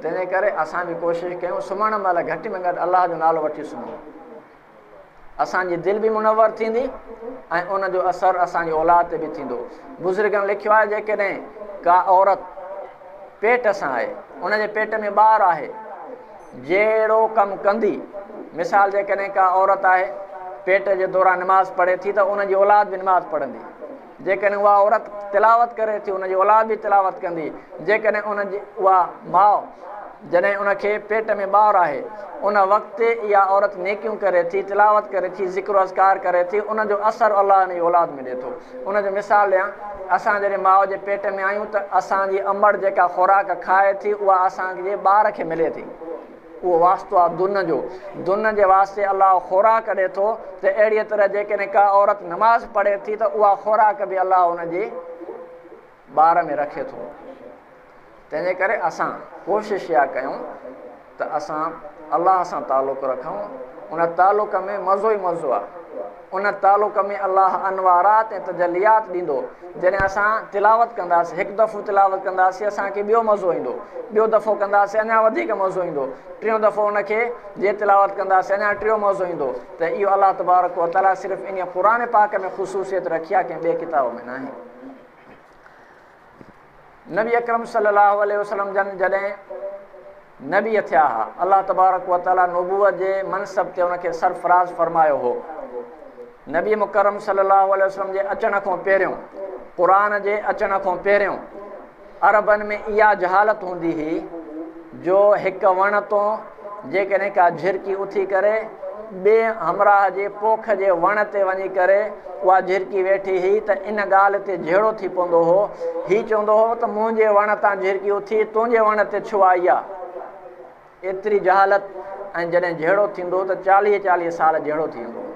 تنهنجي ڪري اسان به ڪوشش ڪيون سمهڻ مهل گهٽ ۾ گهٽ الله جو نالو وٺي سمهون اسان جي دل به منور ٿيندي ۽ ان جو اثر اسان جي اولاد تي به ٿيندو بزرگن لکيو آهي جيڪڏهن ڪا عورت پيٽ سان آهي ان جي پيٽ ۾ ٻار آهي جهڙو ڪم ڪندي مثال جيڪڏهن ڪا عورت آهي پيٽ جي دوران نماز پڙهي ٿي ته ان جي اولاد به نماز پڙهندي جيڪڏهن اها عورت تلاوت ڪري ٿي ان جي اولاد به تلاوت ڪندي جيڪڏهن ان جي اها ماء جڏهن ان کي پيٽ ۾ ٻار آهي ان وقت اها عورت نيڪيون ڪري ٿي تلاوت ڪري ٿي ذڪر و اذڪار ڪري ٿي ان جو اثر الله ان جي اولاد ۾ ڏي ٿو ان جو مثال ڏيان اسان جڏهن ماء جي پيٽ ۾ آهيون ته اسان جي امڙ جيڪا خوراڪ کائي ٿي اها اسان جي ٻار کي ملي ٿي اهو واسطو آهي دن جو. دن جي واسطي الله خوراڪ ڏي ٿو ته اهڙيء طرح جيڪڏهن ڪا عورت نماز پڙهي ٿي ته اها خوراڪ به الله ان جي بار ۾ رکي ٿو. تنهنجي ڪري اسان ڪوشش اها ڪيون ته اسان الله سان تعلق رکون. ان تعلق ۾ مزو ئي مزو آهي. ان تعلق ۾ الله انوارات ۽ تجليات ڏيندو. جڏهن اسان تلاوت ڪنداسين، هڪ دفعو تلاوت ڪنداسين اسان کي ٻيو مزو ايندو، ٻيو دفعو ڪنداسين اڃا وڌيڪ مزو ايندو، ٽيون دفعو ان کي جي تلاوت ڪنداسين اڃا ٽيو مزو ايندو ته اهو الله تبارڪ و تعالي صرف انهي قرآن پاڪ ۾ خصوصيت رکي آهي ڪنهن ٻئي ڪتاب ۾ ناهي. نبي اڪرم صلي الله عليه وسلم جن جڏهن نبي ٿيا ها الله تبارڪ وتعالى نبوت جي منصب تي ان کي سرفراز فرمايو هو نبي مڪرم صلي الله عليه وسلم جي اچڻ کان پهريون قرآن جي اچڻ کان پهريون عربن ۾ اها جهالت هوندي هئي جو هڪ وڻ تون جيڪڏهن ڪا جهرڪي اٿي ڪري ٻئي همراهه جي پوک جي وڻ تي وڃي ڪري اها جهرڪي ويٺي هئي ته ان ڳالهه تي جهيڙو ٿي پوندو هو. هي چوندو هو ته منهنجي وڻ تان جهرڪي اٿي تنهنجي وڻ تي ڇو آئي آ؟ ايتري جهالت ۽ جڏهن جهيڙو ٿيندو هو ته چاليهه چاليهه سال جهيڙو ٿي ويندو هو.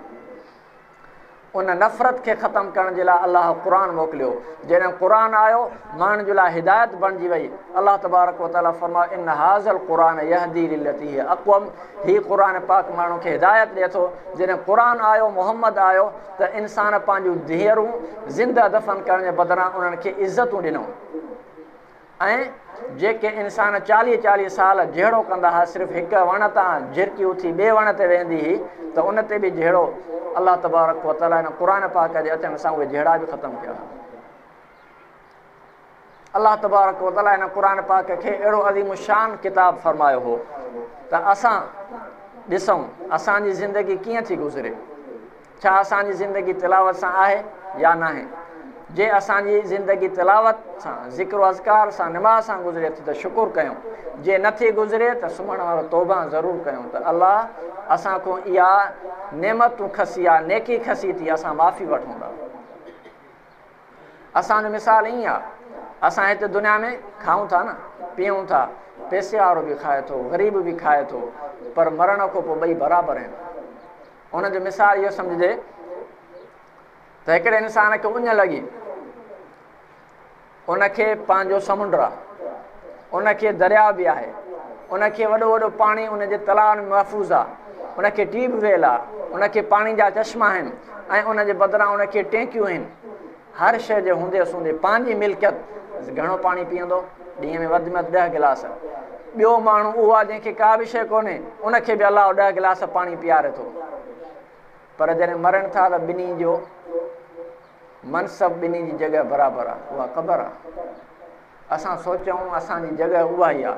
ان نفرت کي ختم ڪرڻ جي لاء الله قرآن موڪليو، جڏهن قرآن آيو، ماڻهن جي لاء هدايت بڻجي وئي، الله تبارڪ و تعاليٰ فرمايو، ان هٰذا القرآن يهدي للتي هي اقوم، هي قرآن پاڪ ماڻهن کي هدايت ڏئي ٿو، جڏهن قرآن آيو، محمد آيو، ته انسان پنهنجون ڌيئرون زنده دفن ڪرڻ جي بدران انهن کي عزتون ڏنو. ۽ جيڪي انسان چاليهه چاليهه سال جهيڙو ڪندا ها صرف هڪ وڻ تان جهرڪي اٿي ٻئي وڻ تي ويندي هئي ته ان تي به جهيڙو الله تبارڪ وتعالي هن قرآن پاڪ جي اچڻ سان اهي جهيڙا به ختم ٿيا ها الله تبارڪ وتعالي هن قرآن پاڪ کي اهڙو عظيم الشان ڪتاب فرمايو هو ته اسان ڏسون اسان جي زندگي ڪيئن ٿي گذري ڇا اسان جي زندگي تلاوت سان آهي يا ناهي؟ جي اسان جي زندگي تلاوت سان، ذڪر و اذڪار سان، نماز سان گذري ٿي ته شڪر ڪيون، جي نه ٿي گذري ته سمهڻ وارو توبهان ضرور ڪيون ته الله اسان کون اها نعمتون کسي، اها نيڪي کسي ٿي اسان معافي وٺون ٿا. اسان جو مثال ائين آهي، اسان هتي دنيا ۾ کائون ٿا نه، پيئون ٿا، پئسي وارو به کائي ٿو، غريب به کائي ٿو، پر مرڻ کان پوء ٻئي برابر آهن. ان جو مثال اهو سمجهجي ته هڪڙي انسان کي اڃ لڳي ان کي پنهنجو سمنڊ آ ان کي درياء به آهي ان کي وڏو وڏو پاڻي ان جي تلاء ۾ محفوظ آ ان کي ٽيوب ويل آ ان کي پاڻي جا چشما آهن ۽ ان جي بدران ان کي ٽينڪيون آهن هر شيء جي هوندي اسوندي پنهنجي ملڪيت گهڻو پاڻي پيئندو، ڏينهن ۾ وڌ ۾ وڌ ڏهه گلاس. ٻيو ماڻهو اهو آ جنهن کي ڪا به شيء ڪونهي، ان کي به الله ڏهه گلاس پاڻي پيئاري ٿو. پر جڏهن مرن ٿا ته ٻنهي جو منصب، ٻنهي جي جڳهه برابر آ، اها قبر آ. اسان سوچيائون اسان جي جڳهه اها ئي آ،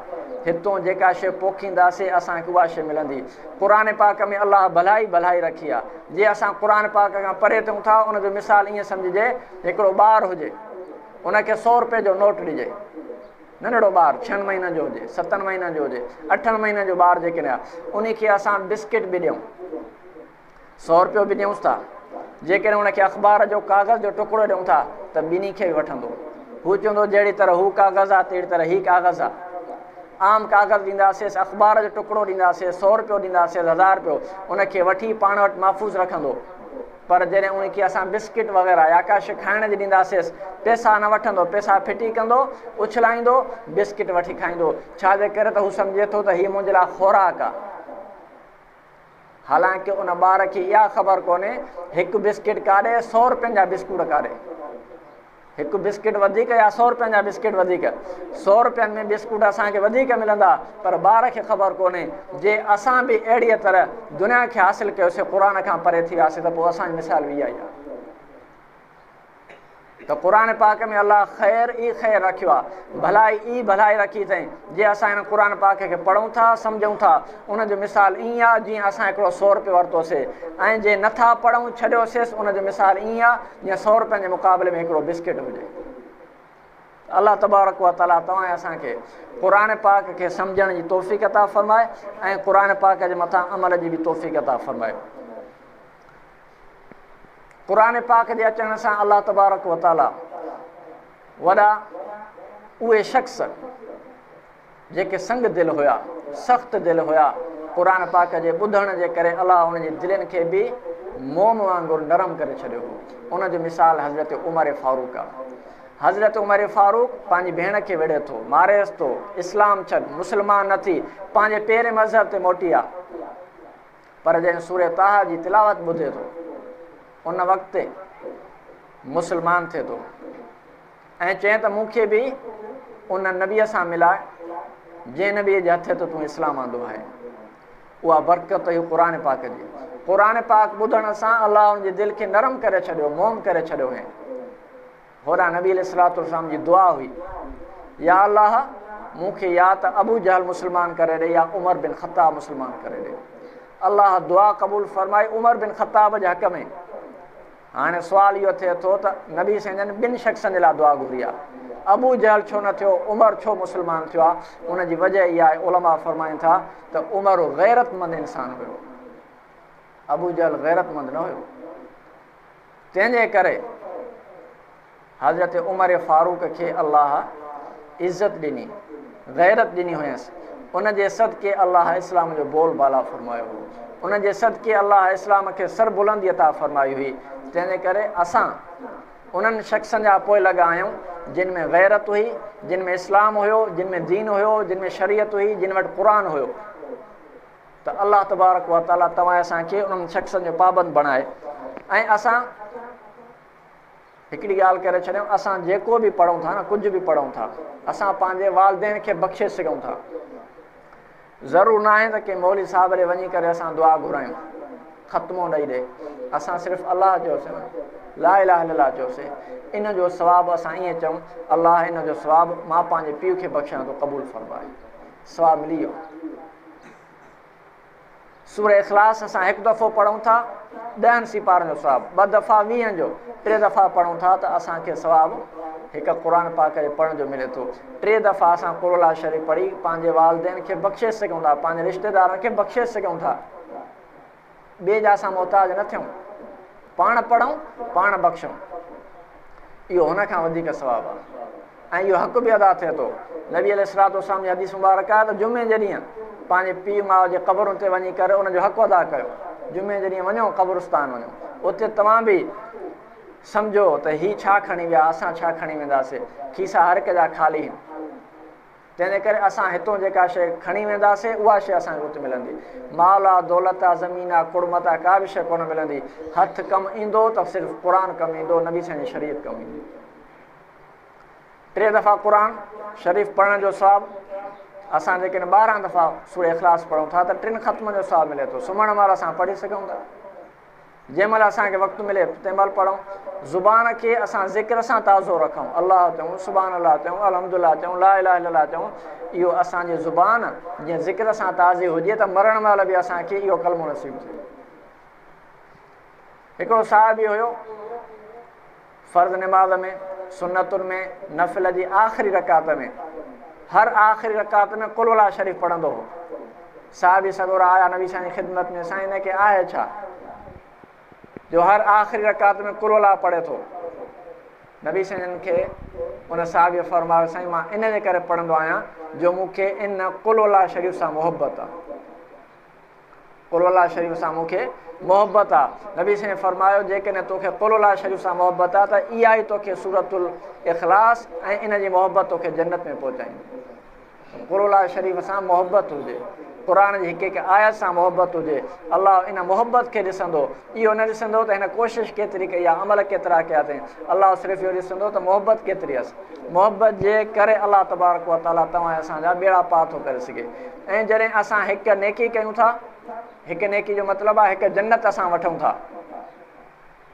هتون جيڪا شيء پوکينداسين اسان کي اها شيء ملندي. قرآن پاڪ ۾ الله ڀلائي ڀلائي رکي آ. جي اسان قرآن پاڪ کان پري ٿيون ٿا ان جو مثال ائين سمجهجي هڪڙو ٻار هجي ان کي سؤ روپيه جو نوٽ ڏجي ننڍڙو ٻار ڇهن مهينن جو هجي ستن مهينن جو هجي اٺن مهينن جو ٻار جيڪڏهن آ انهي کي اسان بسڪٽ به ڏيون سؤ روپيو به ڏيونس ٿا. جيڪڏهن هن کي اخبار جو ڪاغذ جو ٽڪرو ڏيون ٿا ته ٻنهي کي به وٺندو. هو چوندو جهڙي طرح هو ڪاغذ آ تهڙي طرح هي ڪاغذ آ. عام ڪاغذ ڏينداسيس، اخبار جو ٽڪرو ڏينداسيس، سؤ روپيو ڏينداسيس، هزار روپيو، ان کي وٺي پاڻ وٽ محفوظ رکندو. پر جڏهن ان کي اسان بسڪٽ وغيره يا ڪا شي کائڻ جي ڏينداسيس، پئسا نه وٺندو، پئسا ڦٽي ڪندو، اڇلائيندو، بسڪٽ وٺي کائيندو. ڇا جي ڪري ته هو سمجهي ٿو ته هي منهنجي لاء خوراڪ آ. حالانڪ ان ٻار کي اها خبر ڪونهي هڪ بسڪٽ ڪاڏي سو روپين جا بسڪوٽ ڪاڏي هڪ بسڪٽ وڌيڪ يا سو روپين جا بسڪٽ وڌيڪ سو روپين ۾ بسڪوٽ اسانکي وڌيڪ ملندا پر ٻار کي خبر ڪونهي جي اسان به اهڙي طرح دنيا کي حاصل ڪيوسي قرآن کان پري ٿي وياسي ته پوء اسانجي مثال به اها ئي آهي ته قرآن پاڪ ۾ الله خير ئي خير رکيو آهي ڀلائي ئي ڀلائي رکي اٿائين جي اسان هن قرآن پاڪ کي پڙهون ٿا سمجھون ٿا ان جو مثال ائين آهي جيئن اسان هڪڙو سؤ روپيو ورتوسي ۽ جي نٿا پڙهون ڇڏيوسيس ان جو مثال ائين آهي جيئن سؤ روپين جي مقابلي ۾ هڪڙو بسڪٽ هجي الله تبارڪ و تعالیٰ توهان اسان کي قرآن پاڪ کي سمجھڻ جي توفيق عطا فرمائي ۽ قرآن پاڪ جي مٿان عمل جي به توفيق عطا فرمائي قرآن پاڪ جي اچڻ سان الله تبارڪ و تعاليٰ وڏا اهي شخص جيڪي سنگ دل هيا سخت دل هيا قرآن پاڪ جي ٻڌڻ جي ڪري الله ان جي دلين کي به موم وانگر نرم ڪري ڇڏيو هو ان جو مثال حضرت عمر فاروق آ حضرت عمر فاروق پنهنجي ڀيڻ کي وڙهي ٿو ماريس ٿو اسلام ڇڏ مسلمان نه ٿي پنهنجي پيري مذهب تي موٽي آ پر جنهن سورة طٰهٰ جي تلاوت ٻڌي ٿو ان وقت مسلمان ٿئي ٿو ۽ چئين ته مون کي به ان نبيء سان ملاء جنهن نبيء جي هٿ ته تون اسلام آندو آهي اها برڪت هي قرآن پاڪ جي قرآن پاڪ ٻڌڻ سان الله ان جي دل کي نرم ڪري ڇڏيو موم ڪري ڇڏيو هي هوڏانهن نبي عليه الصلوة والسلام جي دعا هئي، يا الله! مون کي يا ته ابو جهل مسلمان ڪري ڏي يا عمر بن خطاب مسلمان ڪري ڏي. الله دعا قبول فرمائي عمر بن خطاب جي حق ۾. هاڻي سوال اهو ٿئي ٿو ته نبي سائين جن ٻن شخصن جي لاء دعا گهري آ. ابو جهل ڇو نه ٿيو، عمر ڇو مسلمان ٿيو آ؟ ان جي وجه اها آهي، علماء فرمائن ٿا ته عمر غيرتمند انسان هيو. ابو جهل غيرتمند نه هيو. تنهن جي ڪري حضرت عمر فاروق کي الله عزت ڏني، غيرت ڏني هينس، ان جي صدقي الله اسلام جو بول بالا فرمايو هو، ان جي صدقي الله اسلام کي سربلندي عطا فرمائي هئي، تنهن جي ڪري اسان انهن شخصن جا پوئلڳ آهيون، جن ۾ غيرت هئي، جن ۾ اسلام هيو، جن ۾ دين هيو، جن ۾ شريعت هئي، جن وٽ قرآن هيو. ته الله تبارڪ و تعالي توهان اسان کي انهن شخصن جو پابند بڻائي ۽ اسان هڪڙي ڳالهه ڪري ڇڏيون اسان جيڪو به پڙهون ٿا نه ڪجهه به پڙهون ٿا اسان پنهنجي والدين کي بخشي سگهون ٿا ضرور نه آهي ته ڪنهن مولي صاحب ڏي وڃي ڪري اسان دعا گهرايون ختمو ڏئي ڏي اسان صرف الله چوسي لا اله الا الله چوسي ان جو ثواب اسان ائين چون الله ان جو ثواب مان پنهنجي پيء کي بخشان ٿو قبول فرمائي ثواب ملي ويو سورة اخلاص اسان هڪ دفعو پڙهون ٿا ڏهن سپارن جو ثواب ٻه دفعا ويهن جو ٽي دفعا پڙهون ٿا ته اسان کي ثواب هڪ قرآن پاک کي پڙهڻ جو ملي ٿو ٽي دفعا اسان قرآن الله شريف پڙهي پنهنجي والدين کي بخشي سگهون ٿا پنهنجي رشتيدارن کي بخشي سگهون ٿا ٻئي جا اسان محتاج نه ٿيون، پاڻ پڙهون، پاڻ بخشون، اهو هن کان وڌيڪ ثواب آهي ۽ اهو حق به ادا ٿئي ٿو. نبي عليه الصلوة والسلام جي حديث مبارڪ آهي ته جمعي جي ڏينهن پنهنجي پيء ماء جي قبرن تي وڃي ڪري ان جو حق ادا ڪيو. جمعي جي ڏينهن وڃو قبرستان وڃو، اتي توهان به سمجهو ته هي ڇا کڻي ويا، اسان ڇا کڻي وينداسين، کيسا هر هڪ جا خالي آهن. جنهن جي ڪري اسان هتون جيڪا شيء کڻي وينداسين، اها شيء اسان کي اتي ملندي. مال آ، دولت آ، زمين آ، ڪڙمت آ، ڪا به شيء ڪونه ملندي. هٿ ڪم ايندو ته صرف قرآن ڪم ايندو، نبي سائين جي شريعت ڪم ايندي. ٽي دفعا قرآن شريف پڙهڻ جو ثواب، اسان جيڪڏهن ٻارهن دفعا سورة اخلاص پڙهون ٿا ته ٽن ختمن جو ثواب ملي ٿو. سمهڻ مهل اسان پڙهي سگهون ٿا. جنهن مهل اسان کي وقت ملي تنهن مهل پڙهون، زبان کي اسان ذڪر سان تازو رکون، الله چئون، سبحان الله چئون، الحمد لله چئون، لا اله الا الله چئون، اهو اسان جي زبان جي ذڪر سان تازي هجي ته مرڻ مهل به اسان کي اهو ڪلمو نصيب ٿئي. هڪڙو صحابي هيو. فرض نماز ۾ سنتن ۾ نفل جي آخري رڪعت ۾ هر آخري رڪعت ۾ قل ولا شريف پڙهندو هو صحابي سڳورا آيا نبي سائين خدمت ۾ سائين هن کي آهي ڇا جو هر آخري رڪعت ۾ قل ولا پڙهي ٿو نبي سائين کي ان صحابي فرمايو سائين مان ان جي ڪري پڙهندو آهيان جو مونکي ان قل ولا شريف سان محبت آهي قل الله شريف سان مون کي محبت آ نبي سائين فرمايو جيڪڏهن توکي قل الله شريف سان محبت آ ته اها ئي توکي سورت الاخلاص ۽ ان جي محبت توکي جنت ۾ پهچائيندي قل الله شريف سان محبت هجي قرآن جي هڪ هڪ آيت سان محبت هجي الله ان محبت کي ڏسندو اهو نه ڏسندو ته هن ڪوشش ڪيتري ڪئي آ عمل ڪيترا ڪيا اٿئي الله صرف اهو ڏسندو ته محبت ڪيتري هيس محبت جي ڪري الله تبارڪ وتعاليٰ توهان اسان جا ٻيڙا پار ٿو ڪري سگهي ۽ جڏهن اسان هڪ نيڪي ڪيون ٿا، هڪ نيڪي جو مطلب آهي هڪ جنت اسان وٺون ٿا.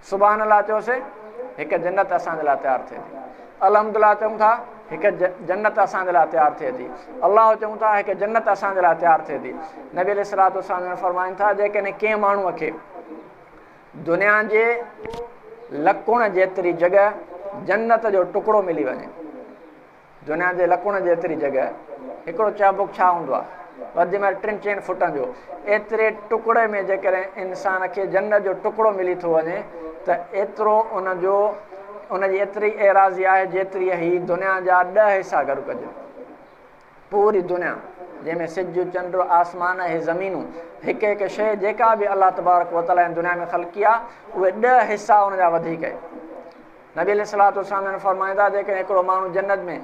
سبحان الله چوسين، هڪ جنت اسان جي لاء تيار ٿئي ٿي. الحمد الله چئون ٿا، هڪ جنت اسان جي لاء تيار ٿئي ٿي. الله چئون ٿا، هڪ جنت اسان جي لاء تيار ٿئي ٿي. نبي عليه الصلوة والسلام فرمائن ٿا، جيڪڏهن ڪنهن ماڻهوء کي دنيا جي لڪڻ جيتري جڳهه جنت جو ٽڪڙو ملي وڃي، دنيا جي لڪوڻ جيتري جڳهه هڪڙو چابڪ ڇا هوندو آهي، وڌ ۾ وڌ ٽن چئن فٽن جو، ايتري ٽڪڙي ۾ جيڪڏهن انسان کي جنت جو ٽڪڙو ملي ٿو وڃي ته ايترو ان جو ان جي ايتري ايراضي آهي جيتري هي دنيا جا ڏهه حصا گڏ ڪجن. پوري دنيا جنهن ۾ سج، چنڊ، آسمان اهي زمينون هڪ هڪ شيء جيڪا به الله تبارڪ وتعاليٰ هن دنيا ۾ خلقي آهي اهي ڏهه حصا ان جا وڌيڪ آهي. نبي عليه الصلوة والسلام جن فرمايو ته جيڪڏهن هڪڙو ماڻهو جنت ۾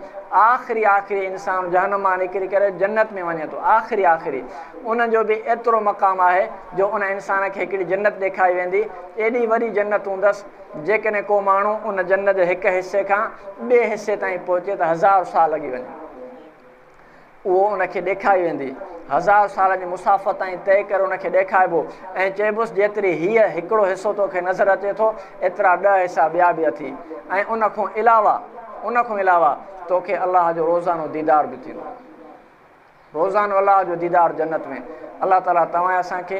آخري آخري انسان جهنم مان نڪري ڪري جنت ۾ وڃي ٿو آخري آخري ان جو به ايترو مقام آهي جو ان انسان کي هڪڙي جنت ڏيکاري ويندي ايڏي وڏي جنت هوندس جيڪڏهن ڪو ماڻهو ان جنت جي هڪ حصي کان ٻئي حصي تائين پهچي ته هزار سال لڳي وڃن. اهو ان کي ڏيکاري ويندي. هزار سالن جي مسافت تائين طئي ڪري ان کي ڏيکاربو ۽ چئبوس جيتري هيء هڪڙو حصو تو کي نظر اچي ٿو، ايترا ڏهه حصا ٻيا به اٿي ۽ ان کون علاوه، ان کون علاوه تو کي الله جو روزانو ديدار به ٿيندو. روزانو الله جو ديدار جنت ۾. الله تعاليٰ توهان ۽ اسان کي.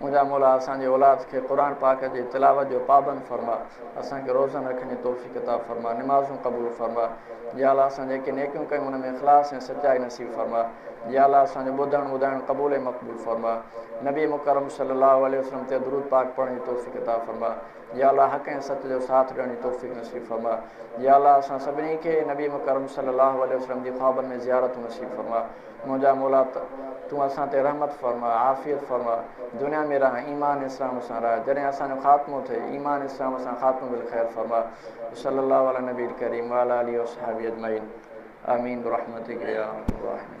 منهنجا مولا اسان جي اولاد کي قرآن پاڪ جي تلاوت جو پابند فرما اسان کي روزن رکن جي توفيق عطا فرما نمازون قبول فرما يا الله اسان جيڪي نيڪيون ڪيون ان ۾ اخلاص ۽ سچائي نصيب فرما يا الله اسان جو ٻڌڻ ٻڌائڻ قبول ۽ مقبول فرما نبي مڪرم صلي الله عليه وسلم تي درود پاڪ پڙهڻ جي توفيق عطا فرما يا الله حق ۽ سچ جو ساٿ ڏيڻ جي توفيق نصيب فرما يا الله اسان سڀني کي نبي مڪرم صلي الله عليه وسلم جي خوابن ۾ زيارتون نصيب فرما منهنجا مولا تون اسان تي رحمت فرماء عافيت فرماء دنيا ۾ رهان ايمان اسلام سان رهان جڏهن اسان جو خاتمو ٿئي ايمان اسلام سان خاتمو بالخير فرماء وصلي الله علي النبي الڪريم وعلي آله وصحبه اجمعين آمين برحمتک يا ارحم الراحمين